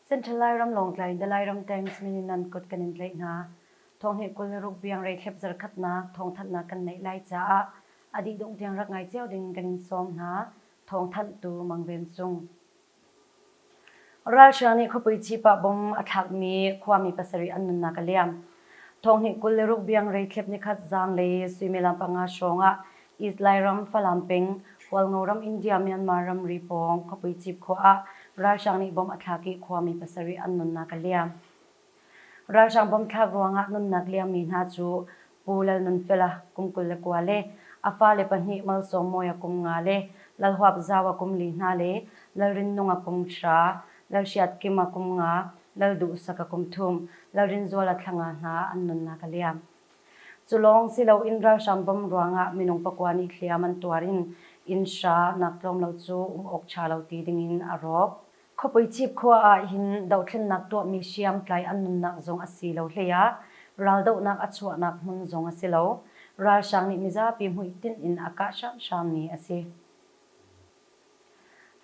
Central Lairam Lawngtlai in the Lairam tanks min in nan kut kan in tlaih hna. Thong he kul le ruk biang rei thlep zarkhatnak thong thatnak kan neih lai caah a dih dungh tiang rak ngai cio ding kan in sawm hna. Thong thanh tu mang ven cung. Ralhrang nih khuapui cipah bom a thlakmi khuami pasarih an nunnak a liam. Thawnghninh kul le ruk biang reitlep nikhat zaang le suimilam panga hrawngah East Lairam, Falam peng, Hualngo ram India, Myanmar ramri pawng khuapui cip khawh ah ralhrang nih bom a thlak i khuami pasarih an nunnak a liam. Ralhrang bawm thlak ruangah nunnak liammi hna cu Pu Lalnunfela kum kul le kua le a fale pahnih Malsawm Mawia kum nga le Lal Huap Zaua kum li hna le Lalrinnunga kum hra, Lalhriatkima kum nga, Lalduhsaka kum thum, Lalrinzuala thlanga hna an nunnak a liam. Cu lawng si loin ralhrang bawm ruangah minung pakua nih hliam an tuar in inn hra nak tlawm lo cu um awk ṭha lo ti dingin a rawk. Khuapui Cip khua ah hin dothlennak tuahmi hriamtlai an nunnak zong a si lo hlei ah raldohnak a chuahnak hmun zong a si lo. Ralhrang nih mizapi hmuitinh in a kah hramhrammi a si.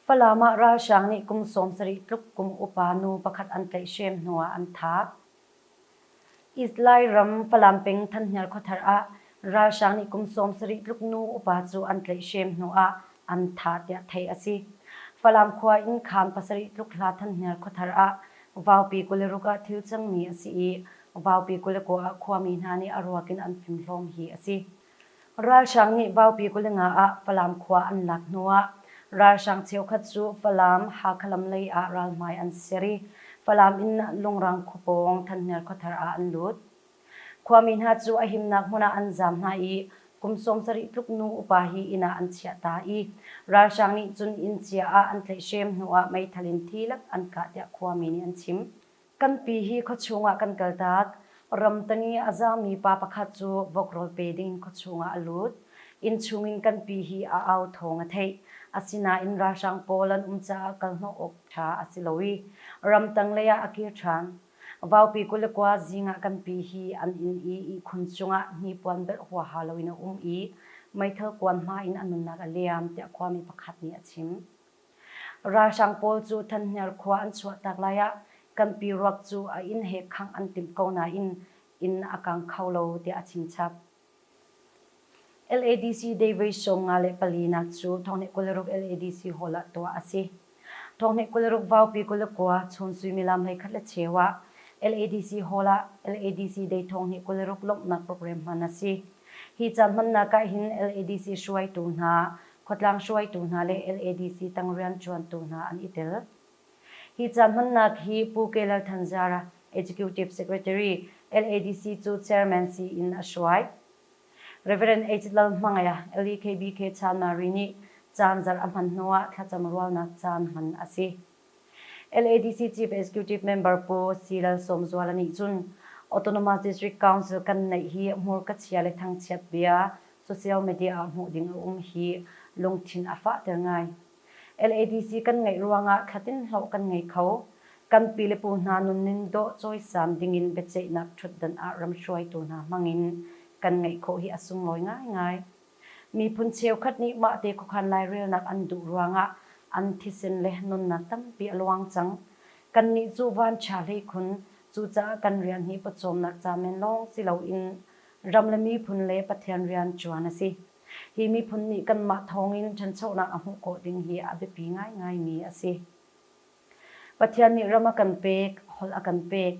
Falam ah ralhrang nih kum sawm sarih tluk kum upa nu pakhat an tlaihhrem hnu ah an thah. Israel ram Falam peng Thanhnial khuathar ah ralhrang nih kum sawm sarih tluk nu upa cu an tlaihhrem hnu ah an thah tiah theih a si. Falam khua in khang pasarih tluk hla Thanhnial khuathar ah vaupi kul le ruk ah thil cangmi a si i vaupi kul le kua ah khuami hna nih a ruak in an fimhlawm hi a si. Ralhrang nih Vaupi kulinga ah Falam khua an lak hnuah ralhrang cheukhat cu Falam, Hakha lam lei ah ralhmai an ser i Falam in Lungrang khua pawng Thanhnial khuathar ah an lut. Khuami hna cu a himnak hmun ah an zaam hna i kum sawmsarih tluk nu upa hi inn ah an chiah ta i ralhrang nih cun inn cia ah an tlaihhrem hnuah meithal in thi lak an kah tiah khuami nih an chim. Kan pi hi khuachung ah kan kal tak. Ramtang i a zaangmi pa pakhat cu vokrawl pe ding khuachung ah a lut. Innchung in kan pi hi a au thawng a theih. Asinain ralhrang pawl an um caah kalhnawh awk ṭha a si lo i ramtang lei ah a kir ṭhan. Vaupi kul le kua zing ah kan pi hi an inn i ihkhun cungah hnipuan belh huaha loin a um i meithal kuan hma in a nunnak a liam, tiah khuami pakhat nih a chim. Ralhrang pawl cu Thanhniar khua an chuahtak lai ah kanpi ruak cu a inn he khangh an timh ko nain inn a kang kho lo tiah a chimchap. LADC Day voi sawm nga le palinak cu thawnghneh kul le ruk LADC hall ah tuah a si. Thawnghneh kul le ruk Vaupi kul le kua chun suimilam hlei khat le cheu ah LADC hall ah LADC Day thawnghneh kul le ruk lawmhnak program hman a si. Hi caan hmannak ah hin LADC hruaitu hna khuatlang hruaitu hna le LADC tang rianṭuantu hna an i tel. Hi ca hmannak hi Pu Ke Lal Than Zara, Executive Secretary, LADC cu Chairman siin a hruai. Rev. H. Lal Hmangea, LEKBK Chanmari nih caan zarh a hman hnuah thlacam rualnak caan hman a si. LADC Chief Executive Member Pu C. Lalsawmzuala nih cun Autonomous District Council kan neih hi hmurka chia le thangchiat bia social media ah hmuh ding a um hi lungthin a fahter ngai. LADC kan ngeih ruangah thlatin hlawh kan ngei kho. Kan pi le pu hna nunnin dawh cawisam dingin biaceihnak ṭhutdan ah ram hruaitu hna hmangin kan ngeih khawh hi a sunglawi ngaingai. Miphun cheukhat nih mahte khuakhan lairelnak an duh ruangah an thisen le nunnak tampi a luang cang. Kannih cu vanṭha hleikhun, cucaah kan rian hi pawcawmnak ca men lawng si loin ram le miphun le Pathian rianṭuan a si. Hi miphun nih kanmah thawngin ṭhanchonak a hmuh khawh ding hi a biapi ngaingaimi a si. Pathian nih ram a kan pek, holh a kan pek,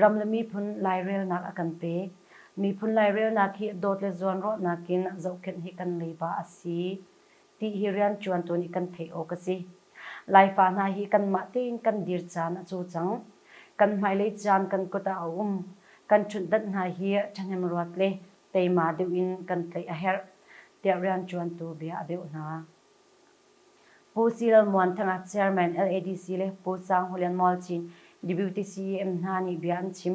ram le miphun lairelnak a kan pek. Miphun lairelnak hi dawt le zuanrawhnak in zohkhenh hi kan leiba a si ti hi rianṭuan tuan i kan theih awk a si. Laifa hna hi kanmah tein kan dir caan a cu cang. Kan hmailei caan kan kut ah a um. Kan ṭhutdanh hna hi ṭhahnemruat le teima deuh in kan tlaih a herh, tiah rianṭuantu bia a deuh hna. Pu Cil Muanthanga Chairman LADC le Pu Sang Hulian Mual Cin Deputy CEM hna nih bia an chim.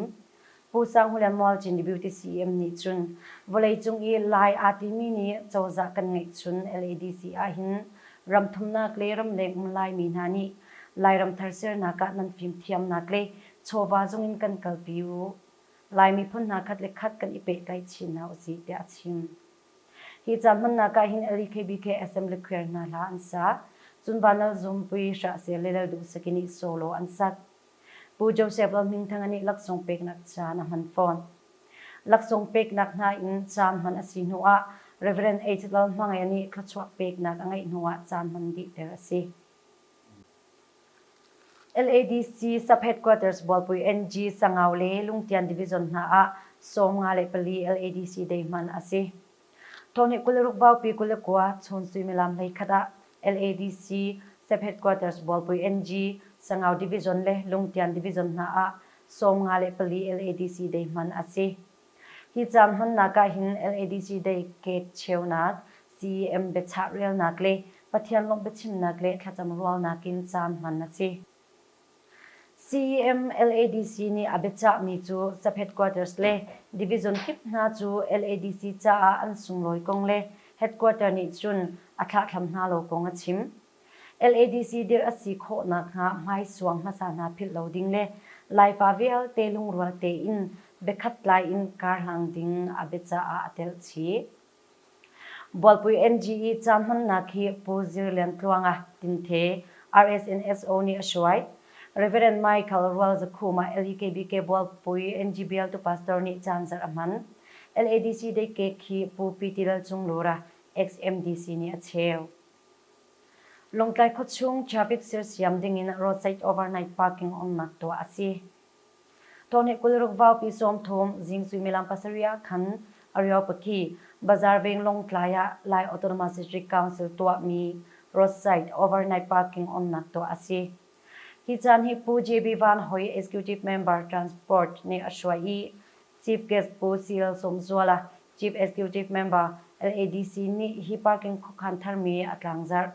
Pu Sang Hulian Mual Cin Deputy CEM nih cun vawleicung i lai aa timi nih cozah kan ngeihchun LADC ahhin ramthumnak le ramleng um Laimi hna nih Lairam thar sernak ah nan fimthiamnak le chawva zung in kan kalpi u. Lai miphun hna khat le khat kan i pehtlaih chin hna usih tiah a chim. Hi ca hmannak ah hin LEKBK FM Lekhuer hna hla an sa. Cun Vanal Zum, Pu Hrah Sel le Lal Duh Saki nih solo an sak. Pu Joseph Lal Hming Thanga nih laksawng peknak caan a hman fawn. Laksawng peknak hna in caan hman a si hnu ah Rev. H. Lal Hmangea nih thluachuah peknak a ngeih hnu ah caan hman dihter a si. LADC sub-headquarters bualpui NG Sangau le Lungtian division hna ah sawmnga le pali LADC day hman a si. Tawni kul le ruk baupi kul le kua chun suimilam hlei khat ah LADC sub-headquarters bualpui NG Sangau division le Lungtian division hna ah sawmnga le pali LADC day hman a si. Hi caang hmannak ah hin LADC Day Cake cheunak, CEM biachah relnak le Pathian lawmh biachimnak le thlacam rualnak in caan hman a si. CEM LADC nih a biachahmi cu Saphet Quarters le Division kip hna cu LADC caah an sunglawi kong le Headquarter nih cun a thlahthlam hna lo kong a chim. LADC dirh a si khawh nakhnga hmaisuang hmasa hna philh lo ding le Laipa vialte lungrual tein biakhat tlai in karhlang ding a bia caah a telh chih. Bualpui NGE ca hmannak hi Pu Zir Lian Tluang a tinte RSNSO nih a hruai. Rev. Michael Rual Zakhuma LEKBK Bualpui NGBLtu pastor nih caan zarh a hman. LADC dei kek hi Pu Pi Ti Lal Cung Lura, ex-MDC, nih a cheu. Lawngtlai khuachung traffic sersiam dingin roadside overnight parking umnak tuah a si. Taw nih kul ruk vaupi sawm thum zing suimilam pasarih ah khan Ariopaki Bazaar Veng Lawngtlai ah Lai Autonomous District Council tuahmi roadside overnight parking umnak tuah a si. Hi caan hi Pu JB Van Hoi Executive Member Transport nih a hruai i Chief Guest Pu CL Sawmzuala, Chief Executive Member, LADC, nih hi parking khuakhan tharmi a tlangzarh.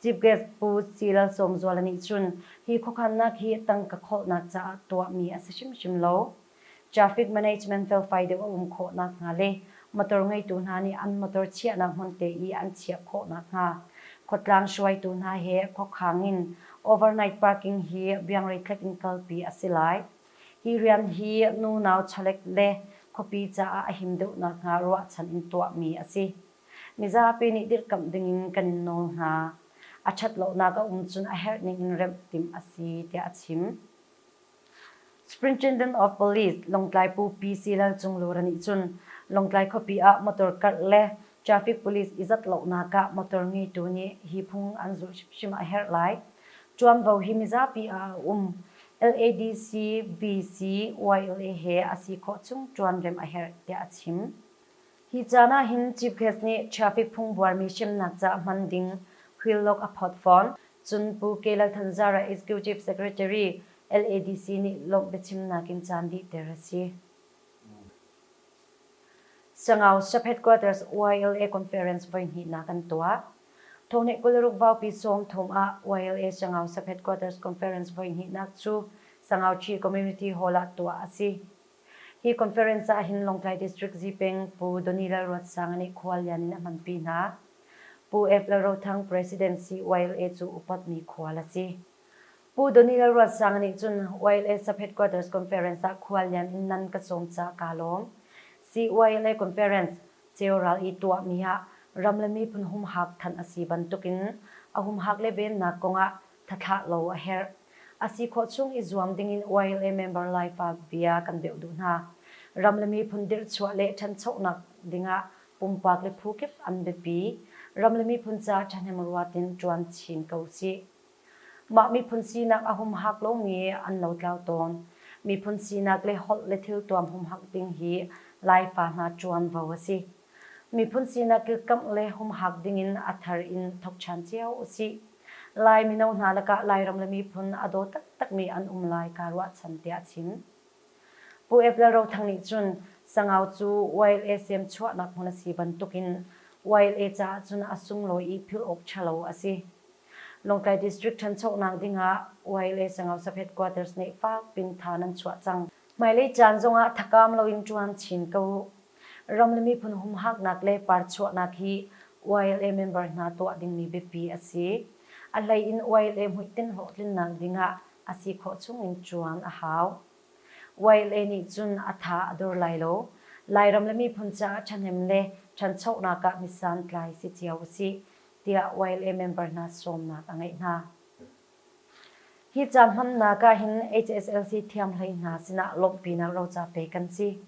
Chief Guest Pu CL Sawmzuala nih cun hi khuakhannak hi tangka khawhnak caah tuahmi a si hrimhrim lo. Traffic management felfai deuh a um khawh nakhnga le motor ngeitu hna nih an motor chiahnak hmunte i an chiah khawh nakhnga khuatlang hruaitu hna he khuakhang in overnight parking hi biangrei tlek in kalpi a si lai. Hi rian hi nu nau chalek le khuapi caah a him deuh nakhnga ruahchan in tuahmi a si. Mizapi nih dirhkamh dingin kan in nawl hna. A ṭhatlonak a um cun a herh ningin remh timh a si, tiah a chim. Superintendent of Police Lawngtlai Pu Pi Si Lal Cung Lura nih cun Lawngtlai khuapi ah motor karh le Traffic police i zat lonak ah motor ngeitu nih hi phung an zulh hrimhrim a herh lai. Tuanvo hi mizapi ah a um. LADC, BC, YLA he a si khawh chung tuanrem a herh, tiah a chim. Hi caan ahhin Chief Guest nih traffic phung buarmi hremnak caah hman ding wheellog a phawt fawn. Cun Pu Kay Lal Than Zara Executive Secretary, LADC, nih lawmh biachimnak in caan dihter a si. Sangau Sub-Headquarters YLA Conference voihnihnak an tuah. Thawhnih kul ruk vaupi sawm thong ah YLA Sangau Sub-Headquarters Conference voihnihnak cu Sangau Chin Community Hall ah tuah a si. Hi conference ah hin Lawngtlai District Zipeng Pu Donny Lalruatsang nih khuallian in a hmanpi hna. Pu F. Lalrothang President si YLA cu upatmi khual a si. Pu Daniel Ruatsang nih cun YLSA Headquarters Conference ah khuallian in nan ka cawm caah kaa lawm. CYLA Conference ceu ral i tuahmi ah ram le miphun humhak thanh a si bantukin a humhak le vennak kongah thathlah lo a herh. A si khawh chung i zuam dingin YLA member Laifa bia kan beuh duh hna. Ram le miphun dirhchuah le thanchonak dingah pumpak le phu kip an biapi. Ram le miphun caah thahnemruat in tuan chin ko sih. Mah miphun sinak a humhak lomi an lotlau tawn. Miphun sinak le holh le thiltuam humhak ding hi Laipa hna ṭuanvo a si. Miphun sinak kilkamh le humhak dingin a thar in thokṭhan cio usih. Lai mino hna lakah Lairam le miphun a daw taktakmi an um lai kaa ruahchan tiah a chim. Pu Ep Lal Ro Thang nih cun Sangau cu YLA sem chuahnak hmun a si bantukin YLA caah cun a sunglawi i philh awk ṭhalo a si. Lawngtlai District ṭhanchonak ding ah Wai le Sangau-Saphet Quarters nih fak pin tha nan chuah cang. Hmailei caan zong ah thakam loin ṭuan chin ko. Ram le miphun humhaknak le parchuahnak hi YLA member hna tuah dingmi biapi a si. A hlei in YLA hmuitinh hlawhtlinnak ding ah a si khawh chung in ṭuan a hau. YLA nih cun a tha a dur lai lo. Lairam le miphun caah ṭhahnem le ṭhanchonak ah misantlai si cio usih. tiah YLA member hna sawmnak a ngeih hna. Hi ca hmannak ahhin HSLC thiam hlei hna sinah lawmhpinak roca pe kan si.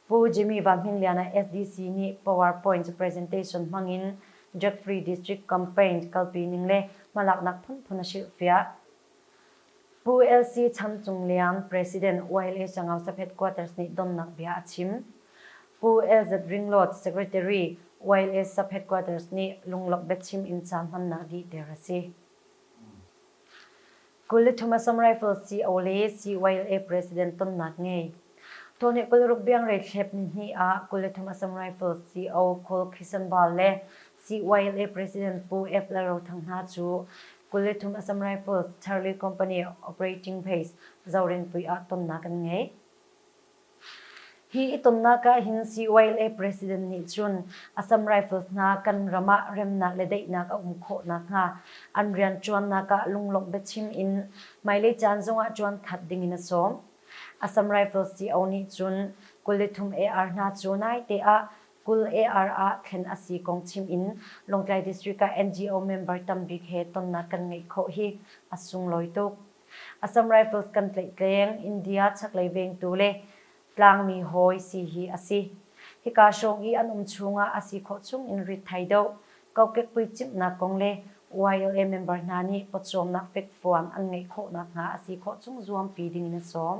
Pu Jimmy Van Hmin Liana SDC nih PowerPoint presentation hmangin Jeffrey District Campaign kalpi ning le hmalaknak phunphun a hrilhfiah. Pu LC Chan Cung Liang, President YLA Changausaphet Quarters nih donnak bia a chim. Pu LZ Ring Lawt, Secretary, YLA Saphet Quarters nih lunglawmh biachim in ca hmannak dihter a si. Kul le thum Assam Rifles CO le CYLA President tonnak ngei. Tuahni kul le ruk biangrei thlep nihnih ah kul le thum Assam Rifles CO Khul Khisanbal le CYLA President Pu Ep Lalrothang hna cu kul le thum Assam Rifles Charlie Company Operating Base, Zorinpui ah tonnak an ngei. Hi i tonnak ah hin CYLA President nih cun Assam Rifles hna kan ram ah remnak le daihnak a um khawh nakhnga an rianṭuannak ah lunglawmh biachim in hmailei caan zongah ṭuan that dingin a sawm. Assam Rifles CO nih cun kul le thum AR hna cu naite ah Kul AR ah thlen a si kong chim in Lawngtlai District ah NGO member tam bik he tonnak kan ngeih khawh hi a sunglawi tuk. Assam Rifles kan tleihtleng, India chaklei vengtu le Tlangmi hawi si hi a si. Hika hrawng i an um chung ah a si khawh chung in ritthai doh, kokekpui cimhnak kong le YLA member hna nih pawcawmnak fekfuang an ngeih khawh nakhnga a si khawh chung zuampi ding in a sawm.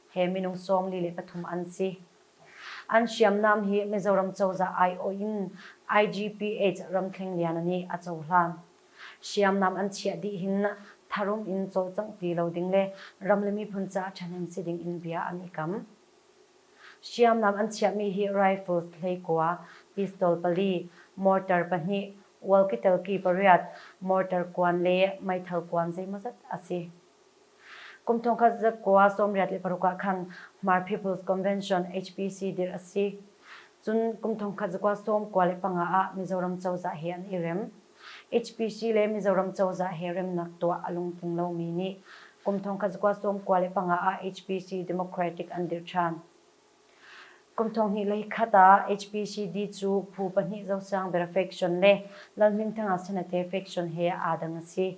he minung sawmli le pathum an si. An hriamnam hi Mizoram cozah aiawh in IGPH ramkheng liana nih a cohlan. Hriamnam an chiah dih hin tharum in cawlcangh ti lo ding le ram le miphun caah ṭhahnem si ding in bia an i kam. Hriamnam an chiahmi hi rifles, hleikua, pistol pali, mortar pahnih, walkie-talkie pariat, mortar kuan le meithal kuan zeimawzat a si. Kum thongkhat zakua sawmriat le paruk ah khan Hmar People's Convention, HPC, dirh a si. Cun kum thongkhat zakua sawm kua le panga ah Mizoram cozah he an i rem. HPC le Mizoram cozah he remnak tuah a lungtling lomi nih kum thongkhat zakua sawm kua le panga ah HPC Democratic an dirh ṭhan. Kum thonghnih le khat ah HPCD cu phu pahnih Zosiang Bera faction le Lalhmingthanga Senate faction he aa dang a si.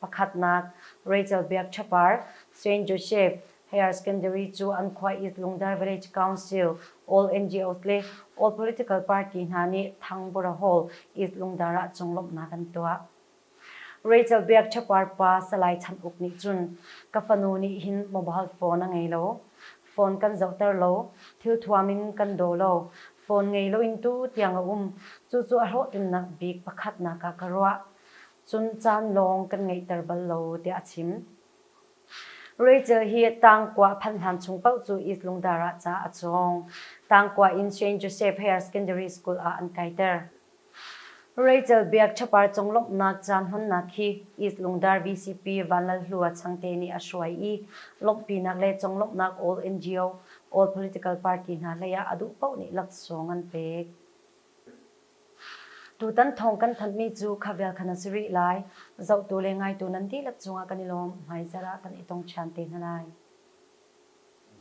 Pakhatnak, Rachel Biakṭhapar, Saint Joseph, Higher Secondary cu an khua East Lungdar Village Council, All NGOs le All Political Party hna nih Thangpura Hall, East Lungdar ah conglawmhnak an tuah. Rachel Biakṭhapar pa Salai Chan Uk nih cun, Ka fanu nih hin mobile phone a ngei lo. Phone kan zohter lo. Thilthuam in kan daw lo. Phone ngei loin tu tiang a um. Cucu a hlawhtlinnak bik pakhatnak ah ka ruah. cun caan lawng kan ngeihter bal lo, tiah a chim. Rachel hi Tangkua phanh hlan chung paoh cu Izlungdar ah ca a cawng. Tangkua in Saint Joseph Higher Secondary School ah an kaiter. Rachel biak ṭhapar conglawmhnak caan hmannak hi Izlungdar VCP Vanlalhlua Changte nih a hruai i lawmhpinak le conglawmhnak All NGO, All Political Party hna hlei ah a duh paoh nih laksawng an pek. Tutan thawng kan thanhmi cu kha vial khan a si rih lai. Zohtu le ngaitu nan dihlak cungah kan i lawm, hmaizarh ah kan i tong ṭhan te hna lai.